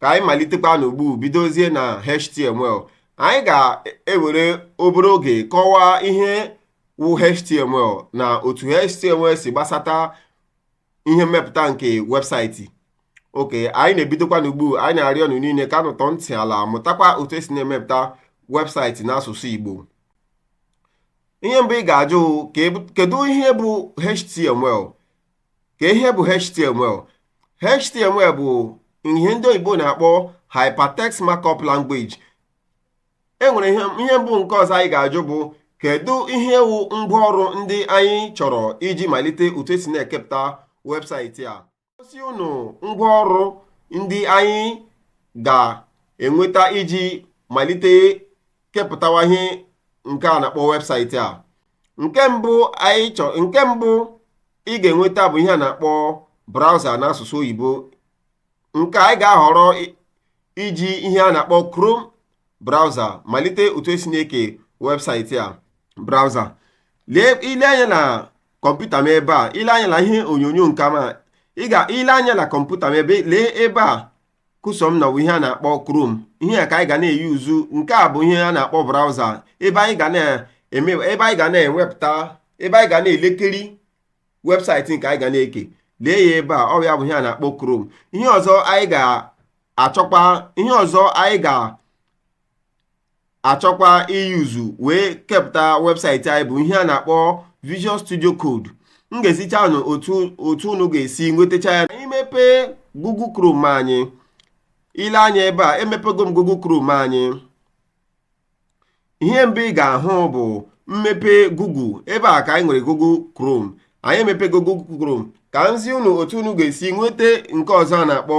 ka anyị malitekwa n'ugbu bidozie na html anyị ga-ewere obere oge kọwaa ihe wụ html na otu html si gbasata ihe mmepụta nke webụsaịtị okay anyị na-ebidokwa n'ugbu anyị na-arịọ unu niile ka unu tọọ ntị ala mụtakwa otu esi na-emepụta webụsaịtị n'asụsụ Igbo ihe mbụ ị ga-ajụ kedu ihe bụ html ka ihe bụ html html bụ ihe ndị oyibo na-akpọ hypertext markup language e nwere ihe ihe mbụ nke ọzọ anyị ga-ajụ bụ kedu ihe wụ ngwaọrụ ndị anyị chọrọ iji malite otu esi na-ekepụta webụsaịtị a gosi unu ngwaọrụ ndị anyị ga-enweta iji malite kepụtawa ihe nke a na-akpọ webụsaịtị a nke mbụ anyị chọ nke mbụ ị ga-enweta bụ ihe a na-akpọ browser n'asụsụ oyibo nke anyị ga-ahọrọ iji ihe a na-akpọ Chrome browser malite otu esi na-eke webụsaịtị a browser lee i lee anya na kọmputa m ebe a i lee anya na ihe onyonyo nke m a i lee anya na kọmputa m ebe lee ebe a cursor m nọ wụ ihe a na-akpọ Chrome ihe a ka anyị ga na-eyuzu nke a bụ ihe a na-akpọ browser ebe anyị ga na-eme ebe anyị ga na-enwepụta ebe anyị ga na-elekiri webụsaịtị nke anyị ga na-eke lee ya ebe a ọ ya bụ ihe a na-akpọ Chrome ihe ọzọ anyị ga-achọkwa ihe ọzọ anyị ga achọkwa iyuzu wee kepụta webụsaịtị anyị bụ ihe a na-akpọ Visual Studio Code m ga-ezicha unu otu otu unu ga-esi nwetacha ya i mepee Google Chrome anyị i lee anya ebe a emepego m Google Chrome anyị ihe mbụ ị ga-ahụ bụ m mepee Google ebe a ka anyị nwere Google Chrome anyị emepego Google Chrome ka m zi unu otu unu ga-esi nweta nke ọzọ a na-akpọ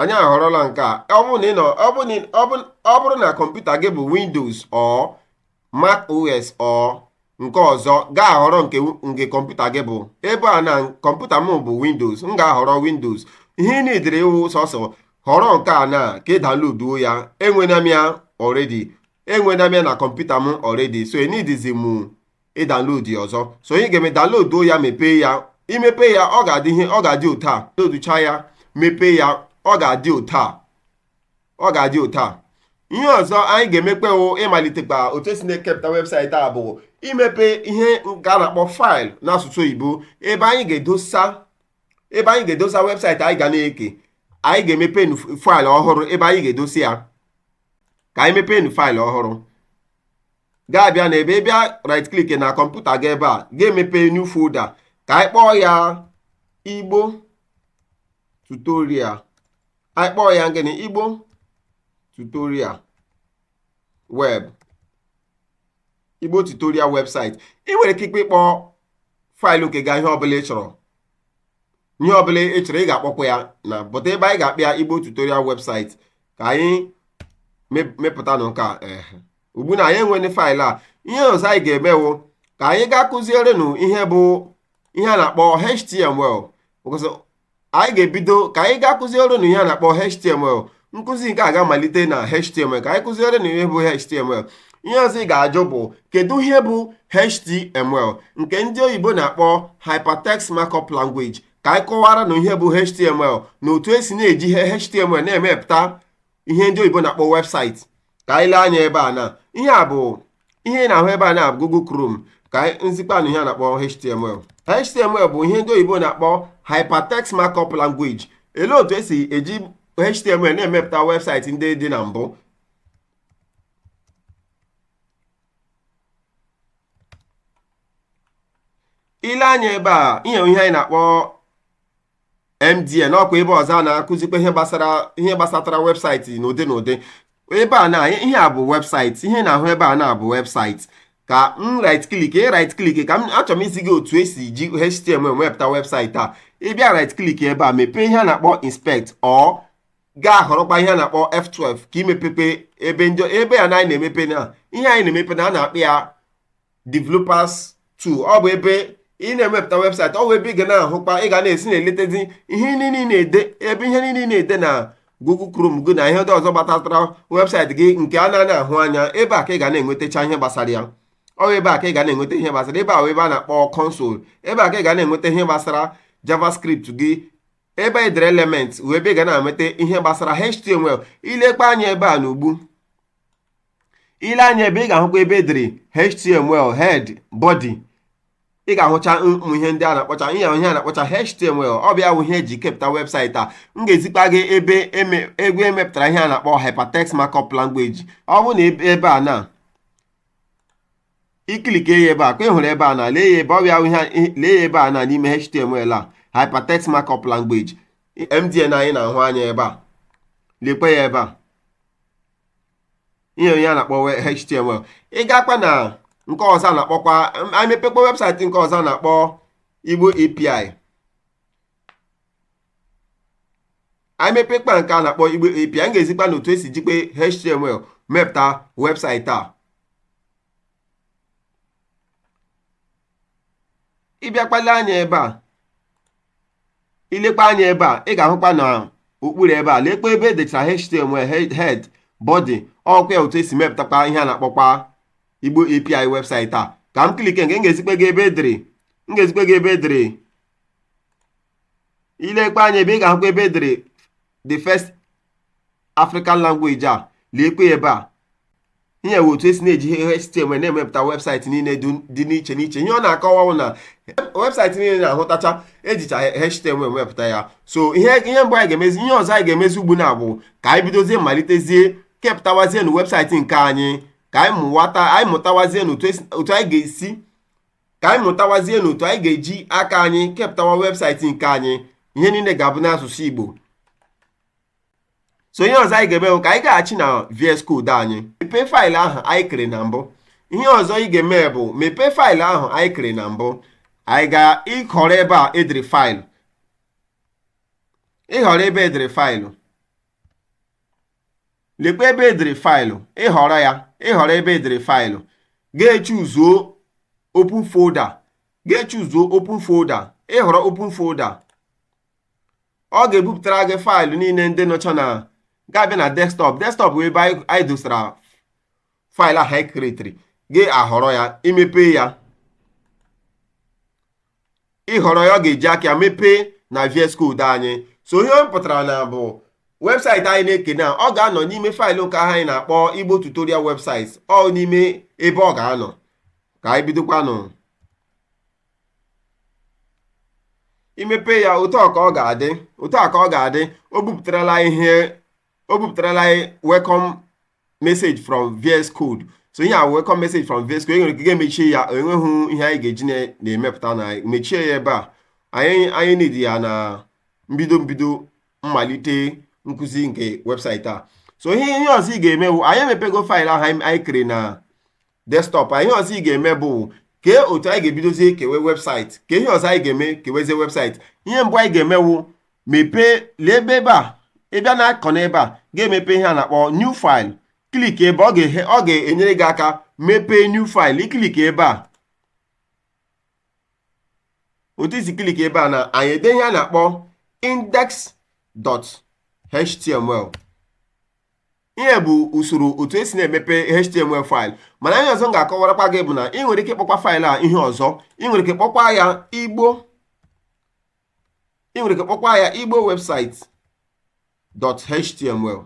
anyị ahọrọla nke a ọ bụrụ na ị nọ ọ bụrụ na ọ bụrụ ọ bụrụ na kọmputa gị bụ Windows or Mac OS or nke ọzọ ga-ahọrọ nke nke kọmputa gị bụ ebe a na kọmputa m bụ Windows m ga-ahọrọ Windows ihe ị niidiri wụ sọsọ họrọ nke a na ka ị danloduo ya enwena m ya already enwena m ya na kọmputa m already so enidizi m ịdanlod ya ọzọ so onye ga-eme danloduo ya mepee ya i mepee ya ọ ga-adị ihe ọ ga-adị otu a danloducha ya mepee ya ọ ga-adị otu a ọ ga-adị otu a ihe ọzọ anyị ga-emekpe wụ ịmalitekwa otu esi na-ekepụta webụsaịtị a bụ imepe ihe nke a na-akpọ faịlụ n'asụsụ oyibo ebe anyị ga-edosa ebe anyị ga-edosa webụsaịtị anyị ga na-eke anyị ga-emepe faịlụ ọhụrụ ebe anyị ga-edosa ya ka anyị mepee faịlụ ọhụrụ ga-abịa na ebe ị bịa right click na kọmputa gị ebe a ga-emepe new folder ka anyị kpọọ ya igbo tutorial anyị kpọọ ya gịnị igbo tutorial web igbo tutorial website ị nwere ike ikpe ịkpọ faịlụ nke gị ihe ọbụla ị chọrọ ihe ọbụla ị chọrọ ị ga-akpọkwa ya na but ebe anyị ga-akpọ ya igbo tutorial website ka anyị mepụtanụ nke a ugbu na anyị enwene file a ihe ọzọ anyị ga-eme wụ ka anyị gaa kụzierenụ ihe bụ ihe a na-akpọ html anyị ga-ebido ka anyị gaa kụzierenụ ihe a na-akpọ html nkụzi nke a ga-amalite na html ka anyị kụzierenụ ihe bụ html ihe ọzọ ị ga-ajụ bụ kedu ihe bụ html nke ndị oyibo na-akpọ hypertext markup language ka anyị kọwaranụ ihe bụ html na otu esi na-eji ihe html na-emepụta ihe ndị oyibo na-akpọ website ka anyị lee anya ebe a na ihe a bụ ihe ị na-ahụ ebe a na Google Chrome ka m zikpanụ ihe a na-akpọ HTML HTML bụ ihe ndị oyibo na-akpọ Hypertext Markup Language elee otu esi eji HTML na-emepụta website ndị dị na mbụ i lee anya ebe a ihe ihe anyị na-akpọ MDN ọkwa ebe ọzọ a na-akụzikwa ihe gbasara ihe gbasatara website n'ụdị n'ụdị ebe a na ihe a bụ website ihe ị na-ahụ ebe a na bụ website ka m right click ị right click ka m achọrọ m izi gị otu esi ji HTML mepụta website a ị bịa right click ebe a mepee ihe a na-akpọ inspect or gaa họrọkwa ihe a na-akpọ F12 ka i mepee ebe ndị ebe a na anyị na-emepe na ihe anyị na-emepe na a na-akpọ ya developers tool ọ bụ ebe ị na-emepụta website ọ bụ ebe ị ga na-ahụkwa ị ga na-esi na-eletezi ihe niile ị na-ede ebe ihe niile ị na-ede na Google Chrome gị na ihe ndị ọzọ gbasatara website gị nke a na-anaghị ahụ anya ebe a ka ị ga na-enwetacha ihe gbasara ya ọ wụ ebe a ka ị ga na-enweta ihe gbasara ebe ahụ ebe a na-akpọ console ebe a ka ị ga na-enweta ihe gbasara javascript gị ebe e dere element wụ ebe ị ga na-enweta ihe gbasara html i lekwa anya ebe a n'ugbu i lee anya ebe ị ga-ahụkwa ebe edere html head body ị ga-ahụcha ụmụ ihe ndị a na-akpọcha ihe ihe a na-akpọcha html ọ bụ ya bụ ihe eji kepụta website a m ga-ezikpa gị ebe egwu emepụtara ihe a na-akpọ hypertext markup language ọ bụ na ebe a na ị click ya ebe a ka ị hụrụ ebe a na lee ya ebe ọ bịa lee ya ebe a na n'ime html a hypertext markup language mdn anyị na-ahụ anya ebe a lekwe ya ebe a ihe a na-akpọ we- html ị gakwa na nke ọzọ a na-akpọkwa anyị mepekwa webụsaịtị nke ọzọ a na-akpọ igbo api anyị mepekwa nke a na-akpọ igbo api m ga-ezikwa unu otu esi jikwa html mepụta webụsaịtị a ịbịakwa lee anya ebe a ilekwa anya ebe a ị ga-ahụkwa na okpuru ebe a lekwa ebe edechara html head body ọ wụkwa ya otu esi mepụtakwa ihe a na-akpọkwa igbo api webụsaịtị a ka m klike nke m ga-ezikwa gị ebe edere m ga-ezikwa gị ebe edere ilekwa anya ebe a ị ga-ahụkwa ebe edere the first African language a lekwa ebe a ihe a bụ otu esi na-eji ihe HTML na-emepụta webụsaịtị niile dị n'iche n'iche ihe ọ na-akọwa wụ na webụsaịtị niile ị na-ahụtacha ejicha HTML wepụta ya so ihe ihe mbụ anyị ga-emezi ihe ọzọ anyị ga-emezi ugbu na bụ ka anyị bidozie malitezie kepụtawazienụ webụsaịtị nke anyị ka anyị mụwata anyị mụtawazienụ otu anyị ga-esi ka anyị mụtawazienụ otu anyị ga-eji aka anyị kepụtawa webụsaịtị nke anyị ihe niile ga-abụ n'asụsụ Igbo so ihe ọzọ anyị ga-eme bụ ka anyị gaghachi na VS Code anyị mepee faịlụ ahụ anyị kere na mbụ ihe ọzọ ị ga-eme bụ mepee faịlụ ahụ anyị kere na mbụ anyị ga-ahọrọ ebe a edere faịlụ ịhọrọ ebe edere faịlụ lekwa ebe edere faịlụ ịhọrọ ya ịhọrọ ebe edere faịlụ ga-echuzuo open folder ga-echuzuo open folder ịhọrọ open folder ọ ga-ebupụtara gị faịlụ niile ndị nọcha na ga-abịa na desktọp desktọp bụ ebe anyị dosara faịlụ ahụ anyị kiretiri ị ga-ahọrọ ya imepe ya ịhọrọ ya ọ ga-eji aka ya mepee na VS Code anyị so ihe ọ pụtara na bụ webụsaịtị anyị na-eke na ọ ga-anọ n'ime faịlụ nke ahụ anyị na-akpọ Igbo tutorial webụsaịtị ọ n'ime ebe ọ ga-anọ ka anyị bidokwanụ imepe ya otu a ka ọ ga-adị otu a ka ọ ga-adị o bupụtarala ihe o bupụtarala welcome message from VS Code so ihe a welcome message from VS Code enwere ike ga-emechi ya o nweghị ihe anyị ga-eji na-emepụta na mechie ya ebe a anyị anaghị need ya na mbido mbido mmalite nkụzi nke webụsaịtị a so ihe ihe ọzọ ị ga-eme wụ anyị emepego faịlụ ahụ anyị kere na desktop a ihe ọzọ ị ga-eme bụ kee otu anyị ga-ebidozie kewe webụsaịtị kee ihe ọzọ anyị ga-eme kewezie webụsaịtị ihe mbụ anyị ga-eme wụ mepee lee ebe ebe a ịbịa na kọna ebe a ga-emepe ihe a na-akpọ new file klik ebe ọ ga-enyere gị aka mepee new file iklik ebe a otu i si klik ebe a na anyị ede ihe a na-akpọ index.html ihe bụ usoro otu esi na-emepe html faịlụ mana ihe ọzọ m ga-akọwarakwa gị bụ na ị nwere ike kpọkwa faịlụ a ihe ọzọ ị nwere ike kpọkwa ya igbo ị nwere ike kpọkwa ya igbo webụsaịtị.html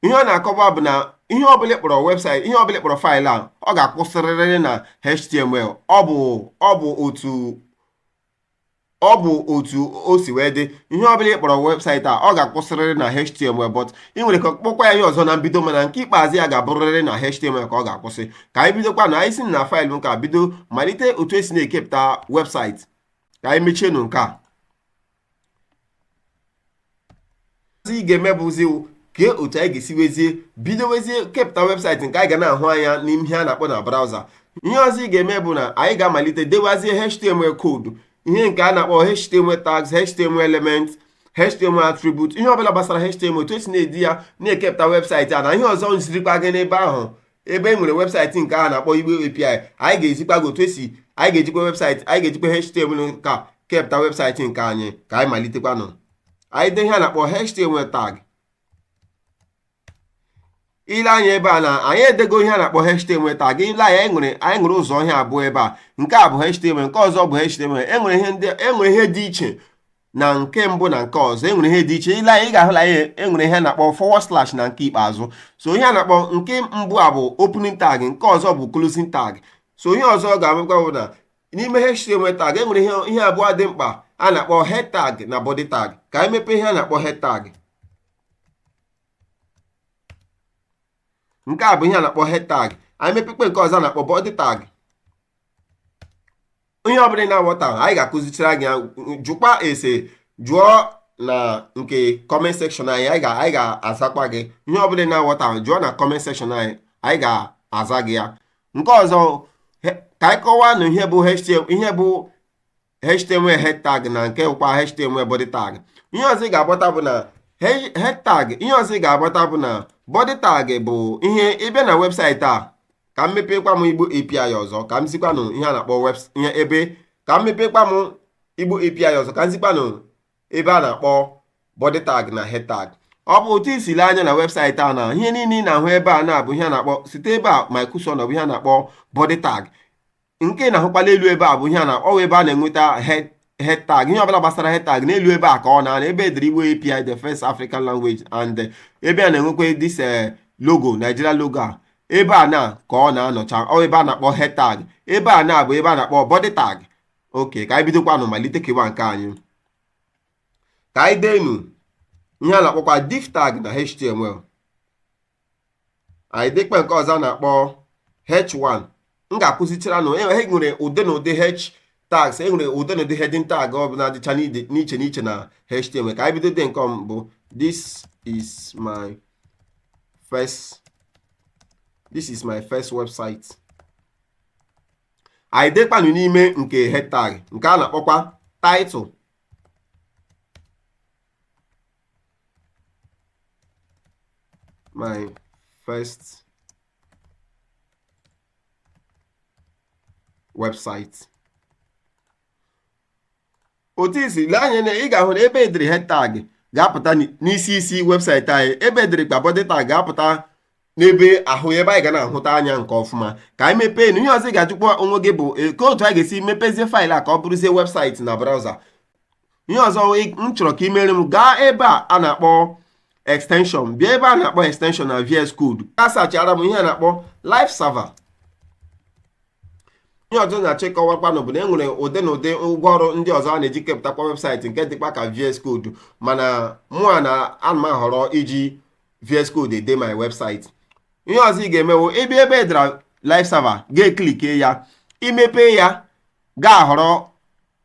ihe ọ na-akọwa bụ na ihe ọbụla ị kpọrọ webụsaịtị ihe ọbụla ị kpọrọ faịlụ a ọ ga-akwụsịrịrị na html ọ bụ ọ bụ otu ọ bụ otu o si wee dị ihe ọbụla ị kpọrọ webụsaịtị a ọ ga-akwụsịrịrị na html but ị nwere ike kpọkwa ya ihe ọzọ na mbido mana nke ikpeazụ ya ga-abụrịrị na html ka ọ ga-akwụsị ka anyị bidokwanụ anyị si na faịlụ nke a bido malite otu esi na-ekepụta webụsaịtị ka anyị mechienụ nke a ị ga-eme bụzi kee otu anyị ga-esi wezie bido wezie kepụta webụsaịtị nke anyị ga na-ahụ anya n'ime ihe a na-akpọ na braụza ihe ọzọ ị ga-eme bụ na anyị ga-amalite dewazie html koodu ihe nke a na-akpọ html tags html element html attribute ihe ọbụla gbasara html otu esi na-ede ya na-ekepụta webụsaịtị a na ihe ọzọ m zirikwa gị n'ebe ahụ ebe e nwere webụsaịtị nke a na-akpọ igbo API anyị ga-ezikwa gị otu esi anyị ga-ejikwa webụsaịtị anyị ga-ejikwa HTML kepụta webụsaịtị nke anyị ka anyị malitekwanụ anyị dee ihe a na-akpọ HTML tag i lee anya ebe a na anyị edego ihe a na-akpọ HTML tag i lee anya anyị nwere anyị nwere ụzọ ihe abụọ ebe a nke a bụ HTML nke ọzọ bụ HTML enwere ihe ndị enwere ihe dị iche na nke mbụ na nke ọzọ enwere ihe dị iche i lee anya ị ga-ahụ na enwere ihe a na-akpọ forward slash na nke ikpeazụ so ihe a na-akpọ nke mbụ a bụ opening tag nke ọzọ bụ closing tag so ihe ọzọ ị ga-amakwa bụ na n'ime HTML tag enwere ihe ihe abụọ dị mkpa a na-akpọ head tag na body tag ka anyị mepee ihe a na-akpọ head tag nke a bụ ihe a na-akpọ head tag anyị mepekwa nke ọzọ a na-akpọ body tag ihe ọbụla ị na-aghọtahụ anyị ga-akụzichara gị ya jụkwa ese jụọ na nke comment section anyị anyị ga- anyị ga-azakwa gị ihe ọbụla ị na-aghọtahụ jụọ na comment section anyị anyị ga-aza gị ya nke ọzọ he- ka anyị kọwaanụ ihe bụ HTML ihe bụ html head tag na nke kwa html body tag ihe ọzọ ị ga-aghọta bụ na he- head tag ihe ọzọ ị ga-aghọta bụ na body tag bụ ihe ị bịa na webụsaịtị a ka m mepekwa m igbo api ọzọ ka m zikwanụ ihe a na-akpọ webs ihe ebe ka m mepekwa m igbo api ọzọ ka m zikwanụ ebe a na-akpọ body tag na head tag ọ bụ otu i si lee anya na webụsaịtị a na ihe niile ị na-ahụ ebe a na-abụ ihe a na-akpọ site ebe a microsoft ọ bụ ihe a na-akpọ body tag nke ị na-ahụkwa n'elu ebe a bụ ihe a na ọ wụ ebe a na-enweta head tag ihe ọbụla gbasara head tag n'elu ebe a ka ọ na-anọ ebe e dere Igbo API the first African language and eh, ebe a na-enwekwa this eh, logo Nigeria logo a ebe a na ka ọ na-anọcha ọ wụ ebe a na-akpọ head tag ebe a na bụ ebe a na-akpọ body tag okay ka anyị bidokwanụ malite kewa nke anyị ka anyị deenụ ihe a na-akpọkwa div tag na html anyị dekpa nke ọzọ a na-akpọ h1 m ga-akụzichara unu e nwere ụdị na ụdị h tags e nwere ụdị na ụdị heading tag ọ bụla dịcha n'iche n'iche na html ka anyị bido dee nke mbụ this is my first this is my first website anyị dekpanụ n'ime nke head tag nke a na-akpọkwa title my first website otu i si lee anya na ị ga-ahụ na ebe e dere head tag ga-apụta n'isi isi website anyị ebe e dere kpa body tag ga-apụta n'ebe ahụ ebe anyị ga na-ahụta anya nke ọfụma ka anyị mepeenụ ihe ọzọ ị ga-ajụkwa onwe gị bụ e, kee otu a ga-esi mepezie file a ka ọ bụrụzie website na browser ihe ọzọ m chọrọ ka i meere m gaa ebe a a na-akpọ extension bịa ebe a na-akpọ extension na VS Code a searchara m ihe a na-akpọ live server ihe ọzọ na-achọ ịkọwakwanụ bụ na e nwere ụdị na ụdị ngwa ọrụ ndị ọzọ a na-eji kepụtakwa website nke dịkwa ka VS Code mana mụwa na ana m ahọrọ iji VS Code ede my website ihe ọzọ ị ga-eme wụ ị bịa ebe e dere live server ga-eklike ya i mepee ya ga-ahọrọ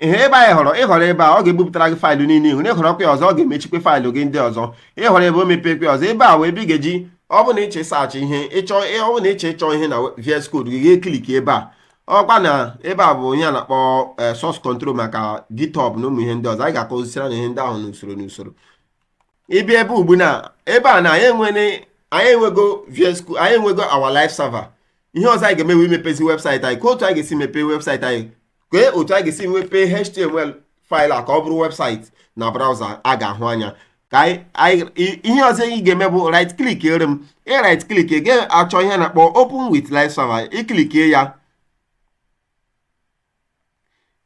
ihe ebe anyị họrọ ị họrọ ebe a ọ ga-ebupụtara gị file niile i nwere ị họrọkwa ya ọzọ ọ ga-emechikwa file gị ndị ọzọ ị họrọ ebe a o mepekwa ọzọ ebe a wụ ebe ị ga-eji ọ bụ na ị chọọ ịsearch ihe ị chọọ ọ bụ na ị chọọ ịchọ ihe na VS Code gị ga-eklik ebe a ọkwa na ebe a bụ ihe a na-akpọ eh, source control maka GitHub na ụmụ ihe ndị ọzọ anyị ga-akụzisiri unu ihe ndị ahụ n'usoro n'usoro ị bịa ebe ugbu na ebe a na anyị enwere anyị enwego VS Code anyị enwego our live server ihe ọzọ anyị ga-eme wụ imepezi website anyị kee otu anyị ga-esi mepee website anyị kee otu anyị ga-esi mepee html file a ka ọ bụrụ website na browser a ga-ahụ anya ka ihe ọzọ ị ga-eme bụ right clickere m ị right click ị ga-achọ ihe a na-akpọ open with live server ị klikie ya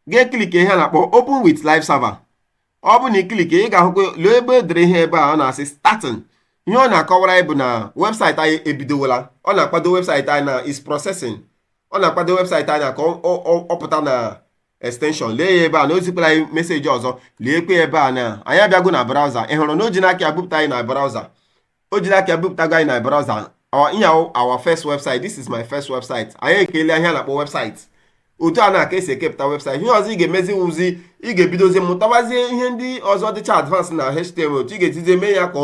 ga-eklikie ihe a na-akpọ open with live server ọ bụ na ị klikie ị ga-ahụkwa lee ebe e dere ihe ebe a ọ na-asị starting ihe ọ na-akọwara anyị bụ na website anyị ebidowala ọ na-akwado website anyị na is processing ọ na-akwado website anyị ka ọ pụta na extension lee ya ebe a na o zikwara anyị message ọzọ leekwa ebe a na anyị abịago na browser ị hụrụ na o ji n'aka ya bupụta anyị na browser o jiri aka bupụtago anyị na browser our ihe our first website this is my first website anyị ekele ihe a na-akpọ website otu a na-aka esi ekepụta website ihe ọzọ ị ga-emezi wụzi ị ga-ebidozi mụtawazie ihe ndị ọzọ dịcha advance na html otu ị ga-esizi mee ya ka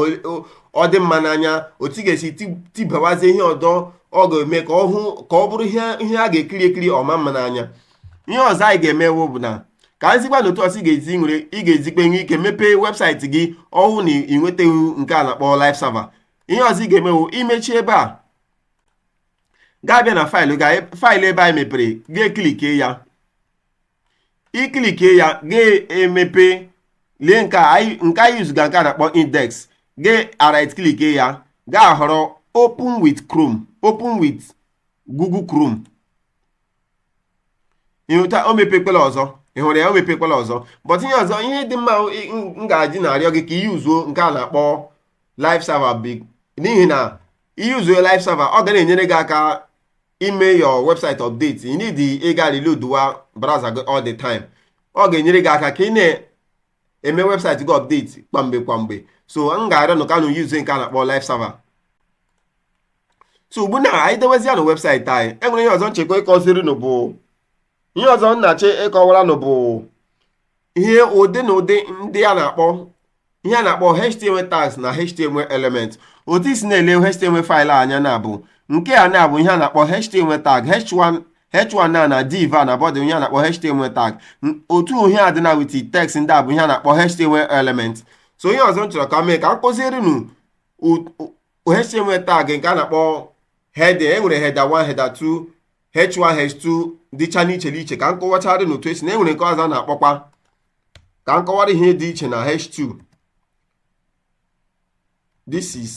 ọ dị mma n'anya otu ị ga-esi tibawazie ihe ọdọ ọ ga-eme ka ọ hụ ka ọ bụrụ ihe a ga-ekiri ekiri ọ maa mma n'anya ihe ọzọ anyị ga-eme ugbu na ka m zikwa nụ otu ọzọ ị ga-esi were ị ga-esikwa nwee ike mepee website gị ọ wụ na ị nwetaghị nke a na-akpọ live server ihe ọzọ ị ga-eme wụ imechi ebe a ga-abịa na file gị file ebe anyị mepere ga-eclick ya ị click ya ga-emepe lee nke anyị yuzuga nke a na-akpọ index ga-right click ya ga-ahọrọ open with chrome open with google chrome ị hụta o mepekwala ọzọ ị hụrụ ya o mepekwala ọzọ but ihe ọzọ ihe dị mma m ga-eji na-arịọ gị ka ị yuzuo nke a na-akpọ live server biko n'ihi na ị yuzuo live server ọ ga na-enyere gị aka ime your website update ị needighị reload wa browser gị all the time ọ ga-enyere gị aka ka ị na eme website gị update kwamgbe kwamgbe so m ga-arịọ nụ ka nụ yuzu nke a na-akpọ live server so ugbu na anyị dewezianụ website anyị e nwere ihe ọzọ m chọkwa ikuziri nụ bụ ihe ọzọ m na-achọ ịkọwara nụ bụ ihe ụdị na ụdị ndị a na-akpọ ihe a na-akpọ html tags na html element otu i si na-ele html file anya na-abụ nke a na-abụ ihe a na-akpọ html tag h1 h1 a na div a na body ihe a na-akpọ html tag otu ihe a dị na with text ndị a bụ ihe a na-akpọ html element so ihe ọzọ m chọrọ ka m mee ka m kuziere nụ html tag nke a na-akpọ heading e nwere header 1 header 2 h1 h2 dịcha n'iche n'iche ka m kọwachara nụ otu e si na e nwere nke ọzọ a na-akpọkwa ka m kọwara ihe dị iche na h2 this is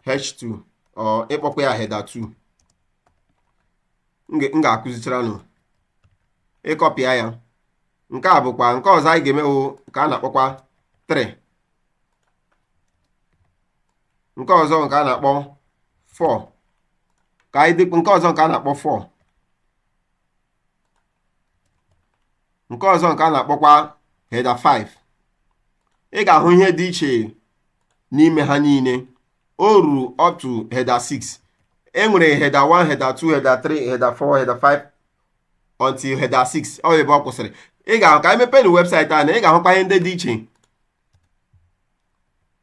h2 or ị kpọkwa ya header 2 m ga-akụzichara nụ ị kọpịa ya nke a bụkwa nke ọzọ anyị ga-eme wụ nke a na-akpọkwa 3 nke ọzọ nke a na-akpọ 4 ka anyị dekwa nke ọzọ nke a na-akpọ 4 nke ọzọ nke a na-akpọkwa header 5 ị ga-ahụ ihe dị iche n'ime ha niile o ruru up to header 6 e nwere header 1 header 2 header 3 header 4 header 5 until header 6 ọ wụ ebe ọ kwụsịrị ị ga-ahụ ka anyị mepeenụ website anyị ị ga-ahụkwa ihe ndị dị iche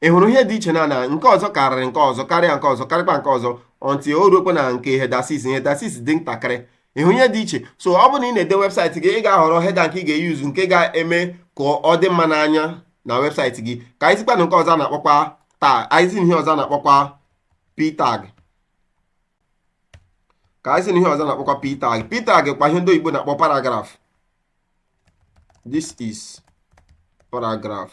ị hụrụ ihe dị iche na na nke ọzọ karịrị nke ọzọ karịa nke ọzọ karịkwa nke ọzọ until o ruokwa na nke header six header six dị ntakịrị ị hụrụ ihe dị iche so ọ bụrụ na ị na-ede webụsaịtị gị ị ga-ahọrọ header nke ị ga-eyuzu nke ga-eme ka ọ dị mma n'anya na webụsaịtị gị ka anyị zikwa unu nke ọzọ a na-akpọkwa tag anyị zi ihe ọzọ a na-akpọkwa p tag ka anyị zi unu ihe ọzọ a na-akpọkwa p tag p tag kwa ihe ndị oyibo na-akpọ paragraph this is paragraph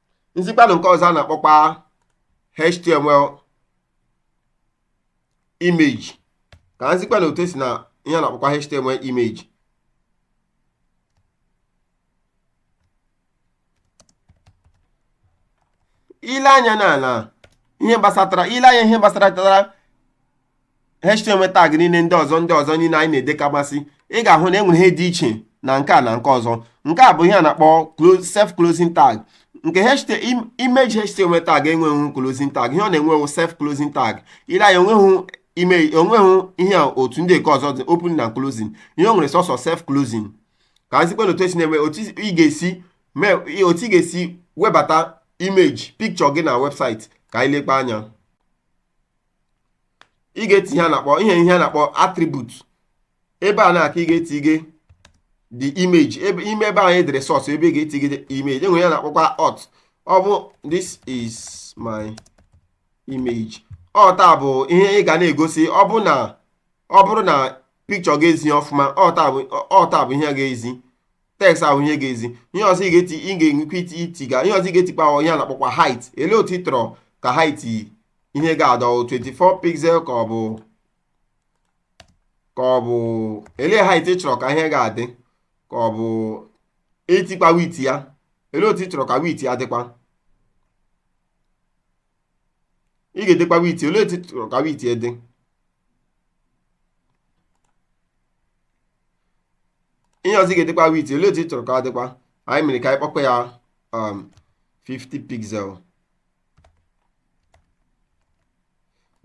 m zikwa unu nke ọzọ a na-akpọkwa html image ka m zikwa unu otu e si na ihe a na-akpọkwa html image i lee anya na na ihe gbasatara i lee anya ihe gbasatara html tag niile ndị ọzọ ndị ọzọ niile anyị na-edekamasị ị ga-ahụ na e nwere ihe dị iche na nke a na nke ọzọ nke a bụ ihe a na-akpọ self closing tag nke image html tag enweghị closing tag ihe ọ na-enwe self closing tag i lee anya o nweghị ime o nweghị ihe otu ndị nke ọzọ dị open na closing ihe o nwere sọsọ self closing ka anyị zikwa otu e si na-eme otu ị ga-esi otu ị ga-esi webata image picture gị na webụsaịtị ka anyị lekwa anya ị ga-eti ihe a na-akpọ ihe ihe a na-akpọ attribute ebe a naa ka ị ga-etige the image ebe ime ebe anyị dere source ebe ị ga-etige the image e nwere ihe a na-akpọkwa alt ọ bụ this is my image alt a bụ ihe ị ga na-egosi ọ bụ na ọ bụrụ na picture ga-ezi ọfụma alt a bụ alt a bụ ihe ga-ezi text ahụ ihe ga-ezi ihe ọzọ ị ga-eti ị ga-enwekwa iti itiga ihe ọzọ ị ga-etikpa ahụ ihe a na-akpọkwa height ele otu ị chọrọ ka height ihe ga-adị 24 pixel ka ọ bụ ka ọ bụ ele height ị chọrọ ka ihe ga-adị ka ọ bụ etikpa width ya ele otu ị chọrọ ka width ya dịkwa ị ga-edekwa width olee etu ị chọrọ ka width dị ihe ọzọ ị ga-edekwa width olee etu ị chọrọ ka ọ dịkwa anyị mere ka anyị kpọkwa ya um, 50 pixel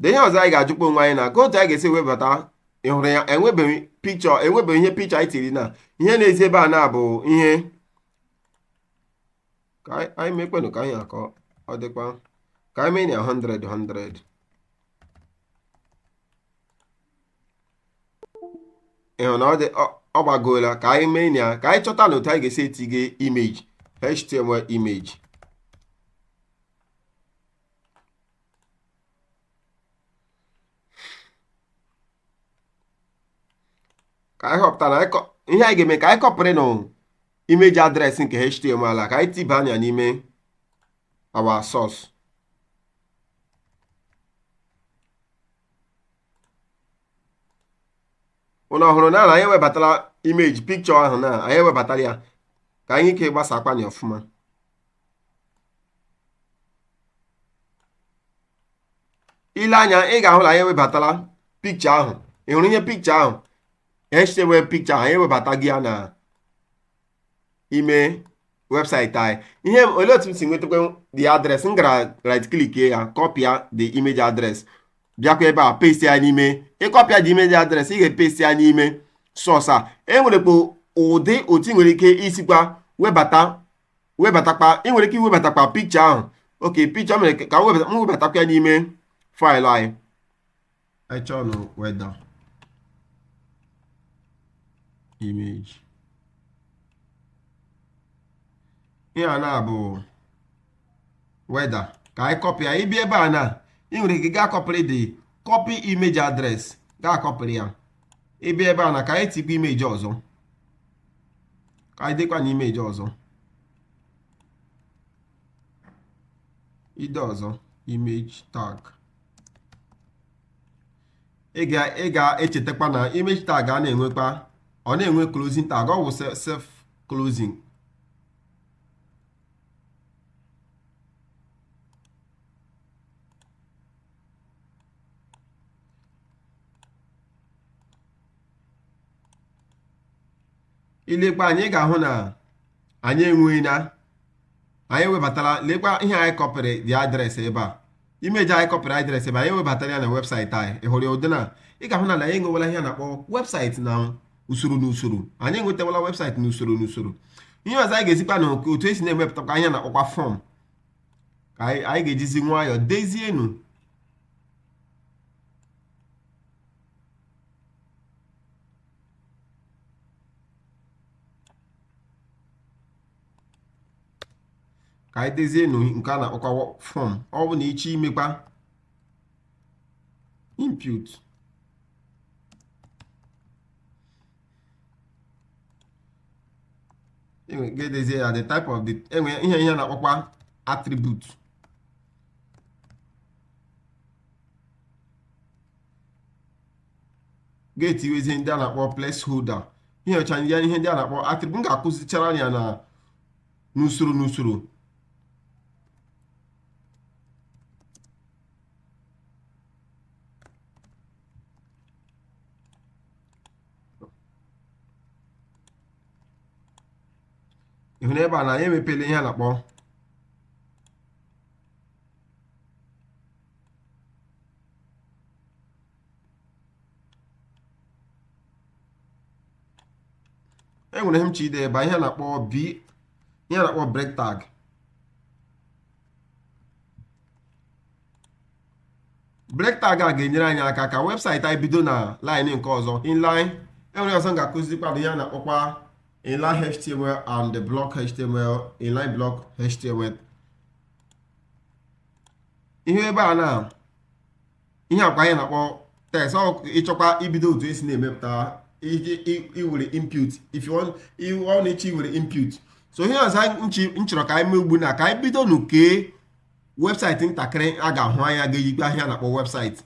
de ihe ọzọ anyị ga-ajụkwa onwe anyị na ka otu anyị ga-esi webata ị hụrụ ya e nwebeghị picture e nwebeghị ihe picture anyị tiri na ihe na-ezi ebe a naa bụ ihe ka anyị- anyị mekwenụ ka anyị akọ ọ dị ka anyị mee ya 100 100 ị hụ na ọ dị ọ- ọ gbagoola ka anyị mee ya ka anyị chọtanụ otu anyị ga-esi etige image html image ka anyị họpụtara anyị kọ- ihe anyị ga-eme ka anyị kọpịrịnụ image address nke html a ka anyị tiba ya n'ime our source ụnụ hụrụ na anyị ewebatala image picture ahụ na anyị ewebatala ya ka anyị ike gbasakwanye ọfụma i lee anya ị ga-ahụ na anyị ewebatala picture ahụ ị hụrụ ihe picture ahụ echewe picture anyị ewebatago ya na ime website anyị ihe olee otu m si nwetakwa the address m gara right click ya kọpịa the image address bịakwa ebe a paste ya n'ime ị kọpịa the image address ị ga-epaste ya n'ime source a e nwerekwa ụdị otu ị nwere ike isikwa webata webatakwa ị nwere ike iwebatakwa picture ahụ okay picture mere ka m webatakwa ya n'ime file anyị anyị chọọ nụ weather image ihe a na-abụ weather ka anyị kọpịa ya ị bịa ebe a na ị nwere ike gaa kọpịrị the copy image address gaa kọpịrị ya ị bịa ebe a na ka anyị tikwa image ọzọ ka anyị deekwa nụ image ọzọ i dee ọzọ image tag ị ga ị ga-echetakwa na image tag a na-enwekwa ọ na-enwe closing tag ọ wụ self closing i lekwaa anya ị ga-ahụ na anyị enwe na anyị ewebatala lekwa ihe anyị kọpịrị the address ebe a image anyị kọpịrị address ebe anyị webatara ya na website anyị ị hụrụ ya ụdị na ị ga-ahụ na anyị enwewela ihe a na-akpọ website na usoro na usoro anyị enwetawala website na usoro na usoro ihe ọzọ anyị ga-ezikwa na otu e si na-emepụtakwa ihe a na-akpọkwa form ka anyị ga-ejizi nwayọọ dezie nụ ka anyị dezie nụ nke a na-akpọkwa form ọ bụ na ị chọọ imekwa input ị ga-edezie ya the type of the enwe ihe ihe na-akpọkwa attribute ga-etiwezi ndị a na-akpọ placeholder ihe ncha a ihe ndị a na-akpọ attribute m ga-akụzichara ya na n'usoro n'usoro ị hụ n'ebe a na anyị emepela ihe a na-akpọ e nwere ihe m chọ ide ebe a, ihe a na-akpọ b ihe a na-akpọ break tag break tag a ga-enyere anyị aka ka website anyị bido na line nke ọzọ inline e nwere ọzọ m ga-akụzikwa bụ ihe a na-akpọkwa inline html and block html inline block html ihe ebe a na ihe akwa anyị na-akpọ tags ọ ị chọkwa ibido otu e si na-emepụta iwere input if you want you want ị chọ iwere input so ihe ọzọ m chọrọ ka anyị mee ugbu na ka anyị bido nu kee website ntakịrị a ga-ahụ anya ga-eyikpe ihe a na-akpọ website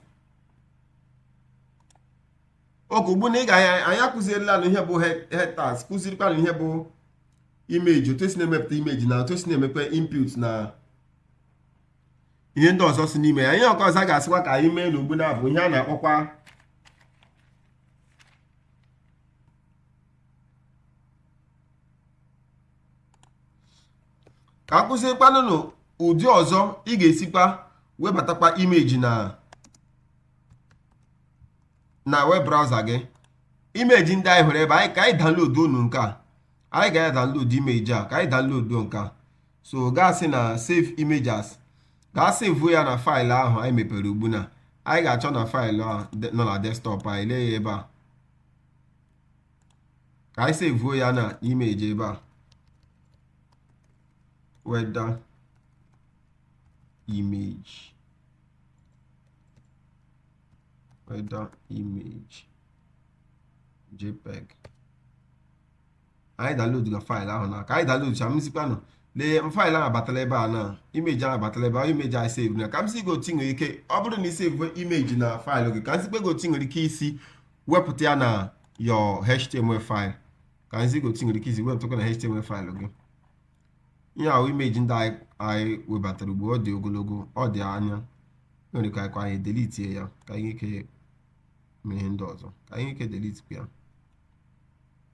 okay ugbu na ị ga-anya anyị akụzirila na ihe bụ head tags kụzirikwa na ihe bụ image otu e si na-emepụta image na otu e si na-emepe input na ihe ndị ọzọ si n'ime ya ihe ọkọ ọzọ a ga-asịkwa ka anyị mee n'ugbu na bụ ihe a na-akpọkwa ka a kụzikwanụ unu ụdị ọzọ ị ga-esikwa webatakwa image na na web browser gị image ndị anyị hụrụ ebe a ka anyị download nụ nke a anyị ga-adownload image a ka anyị download nke a so gazi na save image as ka a sevuo ya na file ahụ anyị mepere ugbu na anyị ga-achọ na file ahụ nọ na desktop anyị lee ya ebe a ka anyị sevuo ya na image ebe a weather image weather image jpeg anyị downloadla file ahụ na ka anyị downloadcha m zikwa unu lee file ahụ abatala ebe a na image ahụ abatala ebe ahụ image anyị sevu na ka m zi gị otu i nwere ike ọ bụrụ na i sevu image na file gị ka m zikpe gị otu i nwere ike isi wepụta ya na your html file ka m zi gị otu i nwere ike isi wepụtakwa na html file gị ihe ahụ image ndị anyị webatara ugbu ọ dị ogologo ọ dị anya nwere ka anyị delitie ya ka anyị ike mee ihe ndị ọzọ ka anyị ike delitikwa ya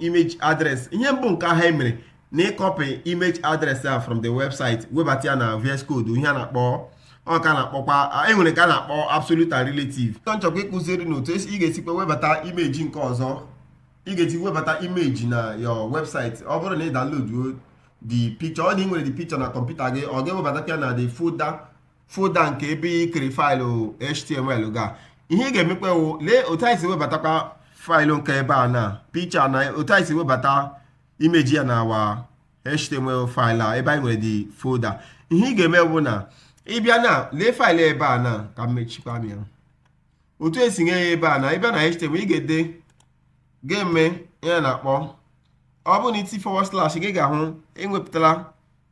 image address ihe mbụ nke ahụ e mere mere na ị copy image address a from the website webata ya na VS Code ihe a na-akpọ ọ ka na-akpọkwa e nwere nke a na-akpọ absolute and relative tọ m chọkwa ịkụziri unu otu ị ga-esikwa webata image nke ọzọ ị ga-esi webata image na your website ọ bụrụ na ị download the picture or na i nwere the picture na kọmputa gị ọ ga-ewebata ya na the folder folder nke ebe ikiri file html ga ihe ị ga-emekwa wụ lee otu anyị si webatakwa file nke ebe a na picture na otu anyị si webata image a na our html file a ebe anyị nwere the folder ihe ị ga-eme bụ na ị bịa na lee file ebe a na ka m mechikwa ya otu e si nye ya ebe a na ị bịa na html ị ga-ede ga-eme ihe na-akpọ ọ bụrụ na i tii forward slash gị ga-ahụ e wepụtala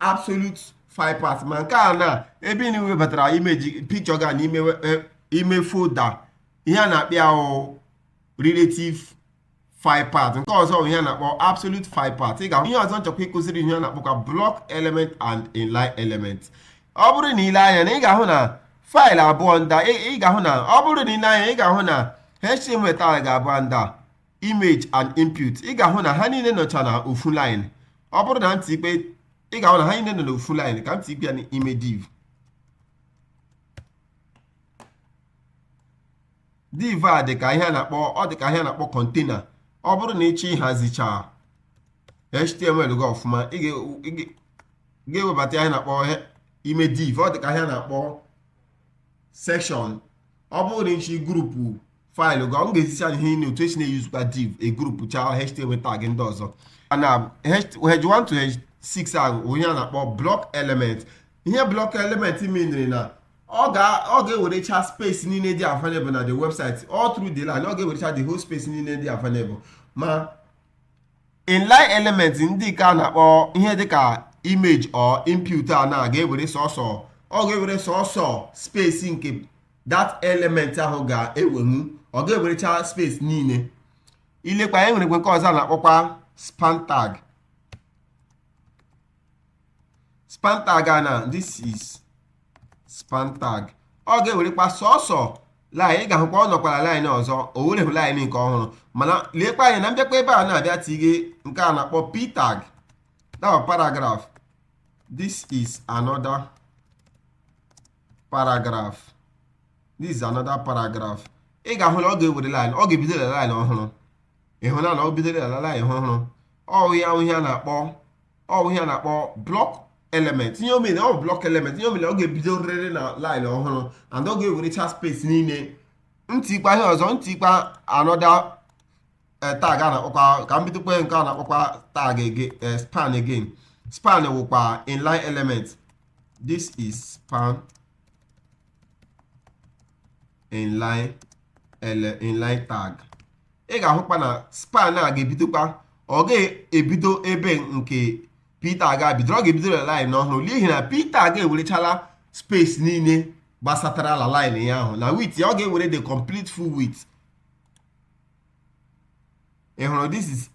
absolute file path ma nke a na ebe ị na-ewebatara image picture ga n'ime e, ime folder ihe a na-akpọ ya wụ relative file path nke ọzọ bụ ihe a na-akpọ absolute file path ị ga ihe ọzọ m chọkwa ịkụziri ihe a na-akpọkwa block element and inline element ọ bụrụ na i lee anya na ị ga-ahụ na file abụọ ndị a ị ga-ahụ na ọ bụrụ na i lee anya ị ga-ahụ na html tag abụọ ndị a image and input ị ga-ahụ na ha niile nọcha na ofu line ọ bụrụ na m tikwa ị ga-ahụ na ha niile nọ na ofu line ka m tikwa ya n'ime div div a dị ka ihe a na-akpọ ọ dị ka ihe a na-akpọ container ọ bụrụ na ị chọọ ịhazicha html gị ọfụma ị ga-ewebata ihe na-akpọ ime div ọ dị ka ihe a na-akpọ section ọ bụrụ na ị chọọ group file gị m ga-ezisi anyị ihe niile otu e si na-eyuzukwa div e groupchaa html tag ndị ọzọ and h1 to h6 ahụ wụ ihe a na-akpọ block element ihe block element menere na ọ ga-ewerecha space niile dị available na the website all through the line ọ ga-ewerecha the whole space niile dị available ma inline element ndị nke a na-akpọ ihe dịka image or input a na ga-ewere sọsọ ọ ga-ewere sọsọ space nke that element ahụ ga-ewenwu ọ ga-ewerecha space niile i lekwa anya e nwere nke ọzọ na-akpọkwa span tag span tag na this is span tag ọ ga-ewerekwa sọsọ line ị ga-ahụkwa ọ nọkwara line ọzọ o werehụ line nke ọhụrụ mana leekwa anya na m bịakwa ebe a na-abịa tighe nke a na-akpọ p tag that paragraph this is another paragraph this is another paragraph ị ga-ahụ na ọ ga-ewere line ọ ga-ebido na line ọhụrụ ị hụna na ọ bido na line ọhụrụ ọ wụ ya ihe a na-akpọ ọ wụ ihe a na-akpọ block element ihe o mere ọ block element ihe o mere ọ ga-ebidoriri na line ọhụrụ and ọ ga-ewerecha space niile m tikwa ihe ọzọ m tikwa another eh, tag a na-akpọkwa ka m bidokwa nke a na-akpọkwa tag again eh, span again span wụkwa inline element this is span inline ele inline tag ị ga-ahụkwa na span a ga-ebidokwa ọ ga-ebido ebe nke p tag bidoro ọ ga-ebido na line ọhụrụ n'ihi na p tag a ewerechala space niile gbasatara la line ya ahụ na width ya ọ ga-ewere the complete full width ị hụrụ this is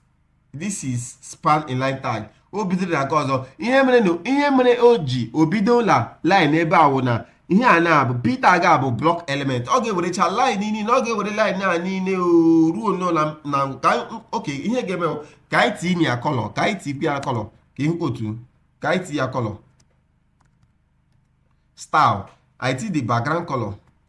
this is span inline tag o bidoro na nke ọzọ ihe mere na ihe mere o ji o bido la line ebe a wụ na ihe a na-abụ p tag a bụ block element ọ ga-ewerecha line niile ọ ga-ewere line a niile o ruo nnọọ na na ka okay ihe ga-eme ka anyị tinye ya color ka anyị tinye ya color ka ị hụ otu ka anyị tinye ya color style anyị tinye the background color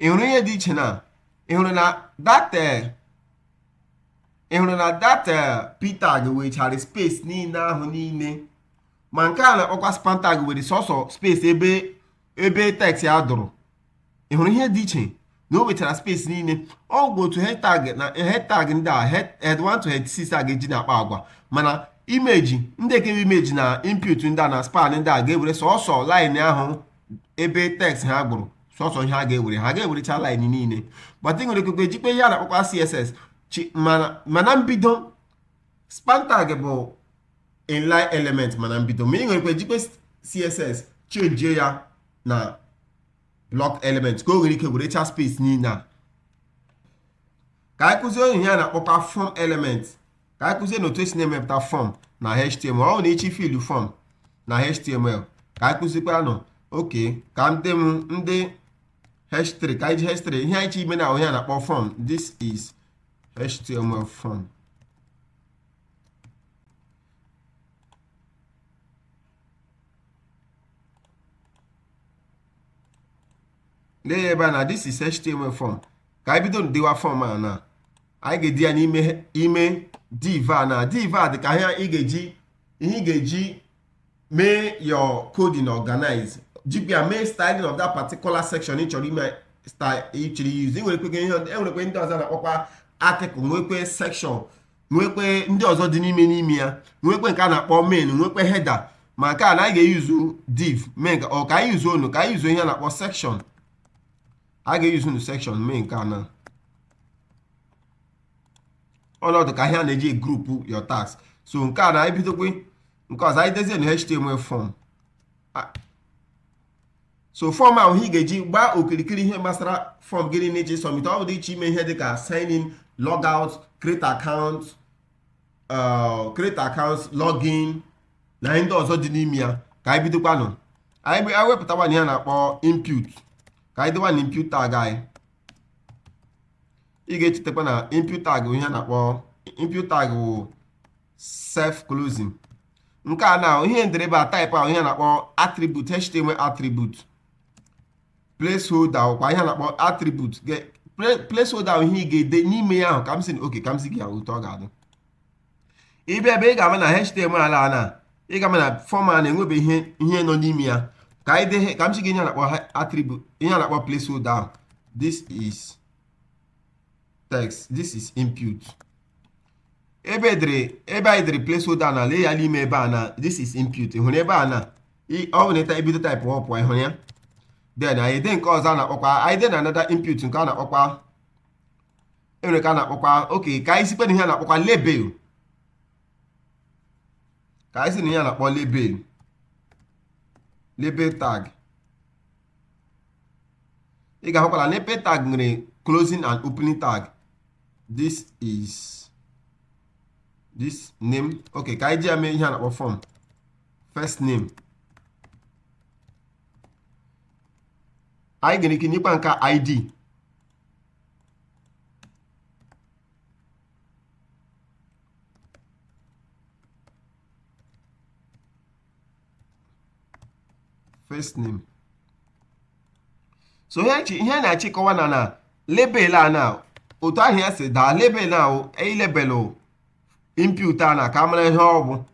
ị hụrụ ihe dị iche na ị hụrụ na that eh, ị hụrụ na that eh, p tag wechara space niile ahụ niile ma nke a na-akpọkwa span tag were sọsọ space ebe ebe text ya dụrụ ị hụrụ ihe dị iche na o wechara space niile ọ bụ otu h tag na h tag ndị a h1 to h6 a ga-eji na-akpa agwa mana image ndị dị ka image na input ndị a na span ndị a ga-ewere sọsọ line ahụ ebe text ha gwụrụ sọsọ ihe ha ga-ewere ha ga-ewerecha line niile but ị nwere ikekwe jikwe ihe a na-akpọkwa css mana mbido span tag bụ inline element mana mbido ma ị nwere ike jikwe css chenjie ya na block element ka o nwere ike werechaa space niile a ka anyị kụzie ihe a na-akpọkwa form element ka anyị kụzie unu otu esi na-emepụta form na html ọ wụ na ị chọ ifill form na html ka anyị kụzikwara unu okay ka ndị m ndị h3 ka anyị ji h3 ihe anyị chọ ime now wụ ihe a na-akpọ form this is html form lee ya ebe a na this is html form ka anyị bido dewa form a na anyị ga-ede ya n'ime ime div a na div a dị ka ihe ị ga-eji ihe ị ga-eji mee your coding organize ji ya mee styling of that particular section ị chọrọ ime style ị chọrọ use ị nwerekwe ihe e nwerekwe ndị ọzọ na-akpọkwa article nwekwe section nwekwe ndị ọzọ dị n'ime n'ime ya nwekwe nke a na-akpọ main nwekwe header ma nke a na anyị ga-use div mee nke or ka anyị use nụ ka anyị use ihe a na-akpọ section a ga-use nụ section mee nke a na ọ na-adị ka ihe a na-eji group your tags so nke a na anyị bidokwe nke ọzọ anyị dezienụ html form so fọm ahụ ihe ị ga-eji gbaa okirikiri ihe gbasara fọm gịnị na iji submit ọ bụ dị iche ime ihe dị ka sign in log out create account uh, create account login na ndị ọzọ dị n'ime ya ka anyị bidokwanụ anyị wepụtawanụ ihe a na-akpọ input ka anyị dewanụ input tag ị ga-echetakwa na input tag ihe a na-akpọ input tag wụ self closing nke a na ihe m dere ebe a type a wụ ihe a na-akpọ attribute html attribute placeholder wụkwa ihe a na-akpọ attribute placeholder wụ ihe ị ga-ede n'ime ya ahụ ka m zi unu okay ka m zi gị otu ọ ga-adị ị bịa ebe a ị ga-ama na html ala na ị ga-ama na fọm a na-enwebe ihe ihe nọ n'ime ya ka anyị dee ka m zi gị ihe a na-akpọ attribute ihe a na-akpọ placeholder ahụ this is text this is input ebe e dere ebe anyị dere placeholder na lee ya n'ime ebe a na this is input ị hụrụ ebe a na ị- ọ bụrụ na ị bido type ọ pụọ ị hụrụ ya then anyị dee nke ọzọ a na-akpọkwa anyị deenụ another input nke a na-akpọkwa e nwere ihe a na-akpọkwa okay ka anyị zikwa unu ihe a na-akpọkwa label ka anyị zi unu ihe a na-akpọ label label tag ị ga-ahụkwa na label tag nwere closing and opening tag this is this name okay ka anyị ji ya mee ihe a na-akpọ form first name anyị nwere ike nyekwa nke a id first name so ihe chi- ihe a na-achịkọwa na na label a na otu aha ya si daa label a o- i label input a na ka a mara ihe ọ bụ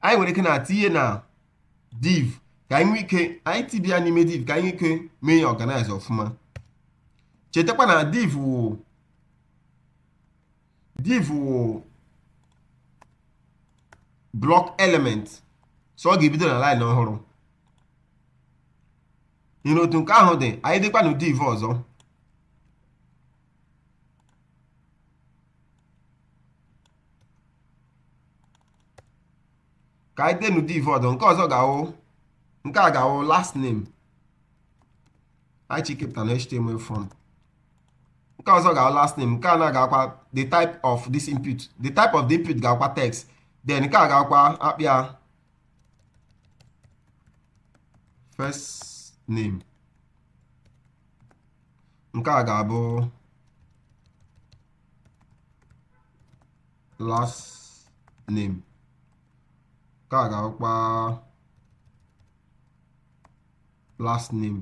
anyị nwere ike na tinye ya na div ka anyị nwee ike itibe ya n'ime div ka anyị nwee ike mee ya organize ọfụma chetakwa na div wụ div wụ block element so ọ ga-ebido na line ọhụrụ nyere otu nke ahụ dị anyị dekwanụ div ọzọ ka anyị deenụ div ọzọ nke ọzọ ga-awụ nke a ga-awụ last name anyị chọ ikepụta na html form nke ọzọ ga last name nke a na ga-awụkwa the type of this input the type of the input ga-awụkwa text then nke a ga-awụkwa a kpọọ ya first name nke a ga-abụ last name nke a ga-awụkwa last name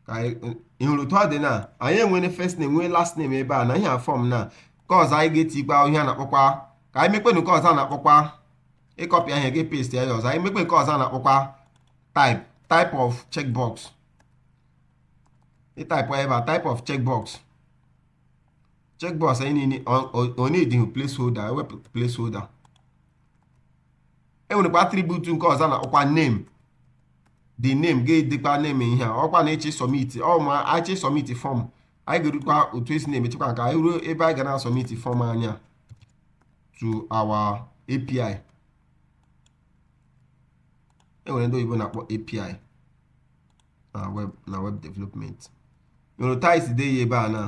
ka anyị- ị hụrụ otu ọ dị na anyị nwere first name nwee last name ebe a na ihe a fọm nke ọzọ anyị ga-etikwa ihe a na-akpọkwa ka anyị mekwe nke ọzọ a na-akpọkwa ị copy ihe a gị paste ya ọzọ anyị mekwe nke ọzọ a na-akpọkwa type type of checkbox ị type ebe a type of checkbox checkbox anyị niile ọ- ọ- ọ needighị placeholder e wepụ placeholder e nwerekwa attribute nke ọzọ a na-akpọkwa name the name ga-edekwa name ihe a ọkwa na a chọọ ịsubmit ọ ma a chọọ ịsubmit fọm anyị ga-erukwa otu e si na-emechekwa nke anyị ruo ebe anyị ga na-asubmit fọm anyị a to our API e nwere ndị oyibo na-akpọ API na web na web development nwere otu anyị si dee ya ebe a na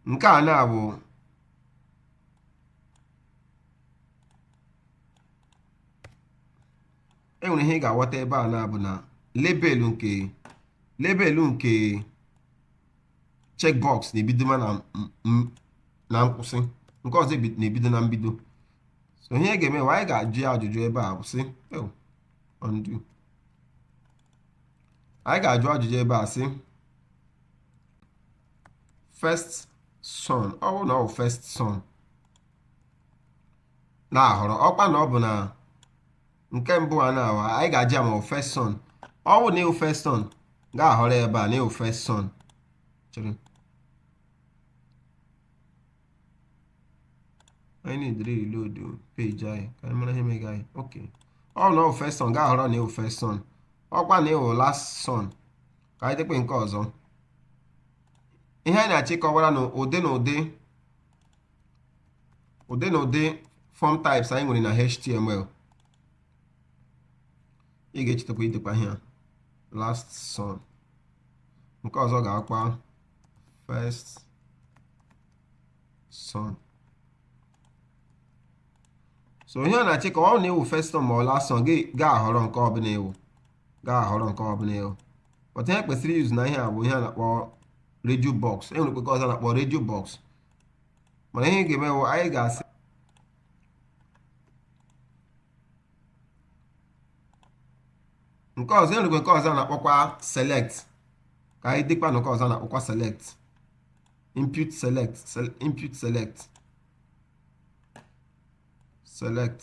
nke a na bụ e nwere ihe ị ga-aghọta ebe a na-abụ na label nke label nke checkbox na-ebido ma na m- m- na nkwụsị nke ọzọ ebi- na-ebido na mbido so ihe ị ga-emewe anyị ga-ajụ ya ajụjụ ebe a bụ sị "Oh, undo." anyị ga-ajụ ajụjụ ebe a sị first son ọ bụrụ na ọ bụ first son na-ahọrọ ọkwa na ọ bụ na nke mbụ a na-awa anyị ga-ajụ ya ma ọ bụ first son ọ bụ na ị wụ first son ga-ahọrọ ya ebe a na ị wụ first son chere anyị na-edere reload page anyị ka anyị mara ihe mega anyị ok ọ bụ na ọ bụ first son ga-ahọrọ na ị wụ first son ọkwa na ị wụ last son ka anyị dekwa nke ọzọ ihe anyị na-achọ ịkọwara unu ụdị na ụdị ụdị na ụdị fọm types anyị nwere na html ị ga-echetakwa idekwa ihe a last son nke ọzọ ga-awụkwa first son so ihe a na-achọ ikwu ọ na ị wụ first son ma ọ last son ga-ahọrọ nke ọbụla ị wụ ga-ahọrọ nke ọbụla ị hụ otu ihe kwesịrị izu na ihe a bụ ihe a na-akpọ radio box e nwerekwa nke ọzọ a na-akpọ radio box mana ihe ga-eme bụ anyị ga-asị nke ọzọ e nwerekwa nke ọzọ a na-akpọkwa select ka anyị dekwanụ nke ọzọ a na-akpọkwa select input select input select select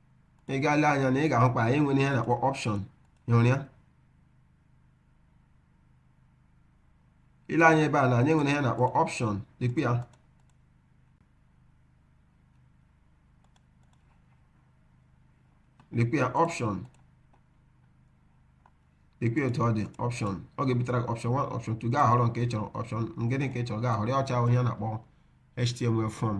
ị gaa lee anya na ị ga-ahụkwa anyị nwere ihe a na-akpọ option ị hụrụ ya i lee anya ebe a na anyị nwere ihe a na-akpọ option lekwa ya lekwa ya option lekwa otu ọ dị option ọ ga-ebutara gị option 1 option 2 gaa họrọ nke ị chọrọ option ụdị nke ị chọrọ gaa họrọ ya ọ cha wụ ihe a na-akpọ html form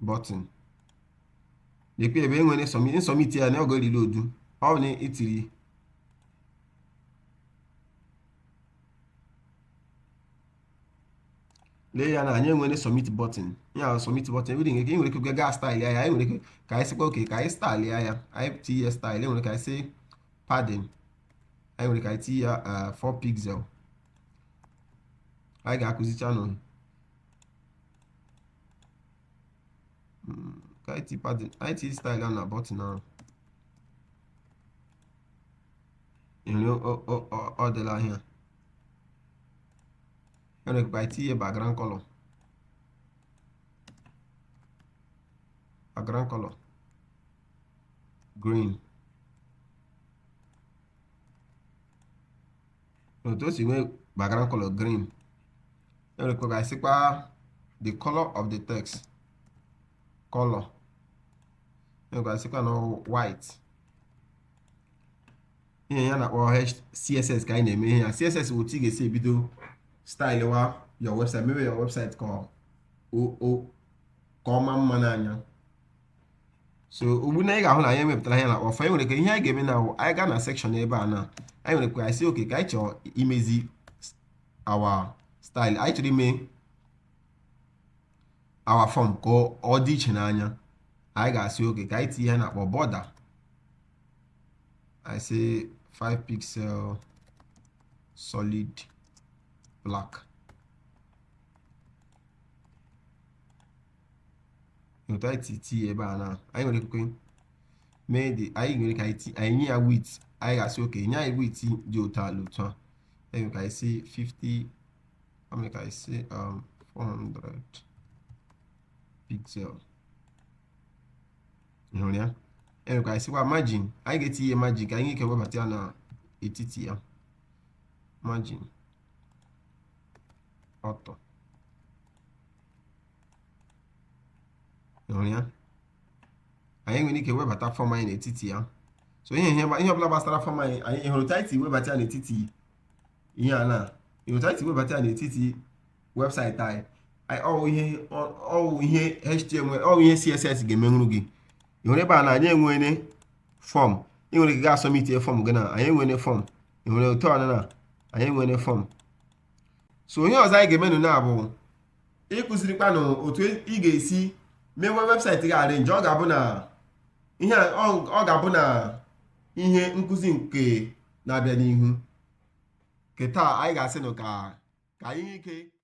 button lekwa ebe e nwere submit submit ya na ọ ga-eriri odu ọ bụ na i tiri lee ya na anyị enwere submit button ya wụ submit button ebe dị nke nwere ike gaa style ya anyị nwere ike anyị sịkwa okay ka anyị style ya ya anyị tinye ya style e nwere ike anyị sị padding anyị nwere ike anyị tinye ya 4 pixel anyị ga-akụzichanụ Mm, ka anyị ti padding anyị ti style a na button a ị hụrụ ọ dịla ahịa e nwere ike anyị tinye background color background color green otu o si nwee background color green e nwerekwa ike sịkwa the color of the text color e nwere ike sịkwa na white ihe a na-akpọ css ka anyị na-eme ihe a css bụ otu ị ga-esi ebido stylewa your website mebe your website ka ọ ma mma n'anya so ugbu a anyị ga-ahụ na anyị emepụtala ihe a na-akpọ form anyị nwere ike ihe anyị ga-eme now anyị gaa na section ebe a na anyị nwere ike anyị sị okay ka anyị chọọ imezi our style anyị chọrọ ime our form ka ọ dị iche n'anya anyị ga-asị okay ka anyị tinye ihe a na-akpọ border ị sị 5 pixel solid black otu anyị ti tinye ebe a na anyị nwere ike mee dị anyị nwere ka anyị nye ya width anyị ga-asị okay nye anyị width dị otu ala otu a anyị ka anyị sị 50 anyị ka anyị sị 400 pixel hụrụ ya enwere ka anyị sịkwa margin anyị ga-etinye margin ka anyị ike webata ya na etiti ya margin auto hụrụ ya anyị nwere ike webata fọm anyị n'etiti ya so ihe ihe ihe ọbụla gbasara fọm anyị anyị hụrụ otu anyị si webata ya n'etiti ihe a na ihe otu anyị si webata ya n'etiti webụsaịtị anyị anyị ọ wụ ihe ọ wụ ihe html ọ wụ ihe css ga-emenwuru gị ị hụrụ ebe a na anyị enwere fọm ị nwere ike ga-asubmit fọm gị na anyị enwere fọm ị nwere otu ọnụ na anyị enwere fọm so ihe ọzọ anyị ga-emenụ na bụ ịkụzirikwanụ otu ị ga-esi mewe webụsaịtị gị arrange ọ ga-abụ na ihe ọ ga-abụ na ihe nkụzi nke na-abịa n'ihu nke taa anyị ga-asị nụ ka ka anyị ike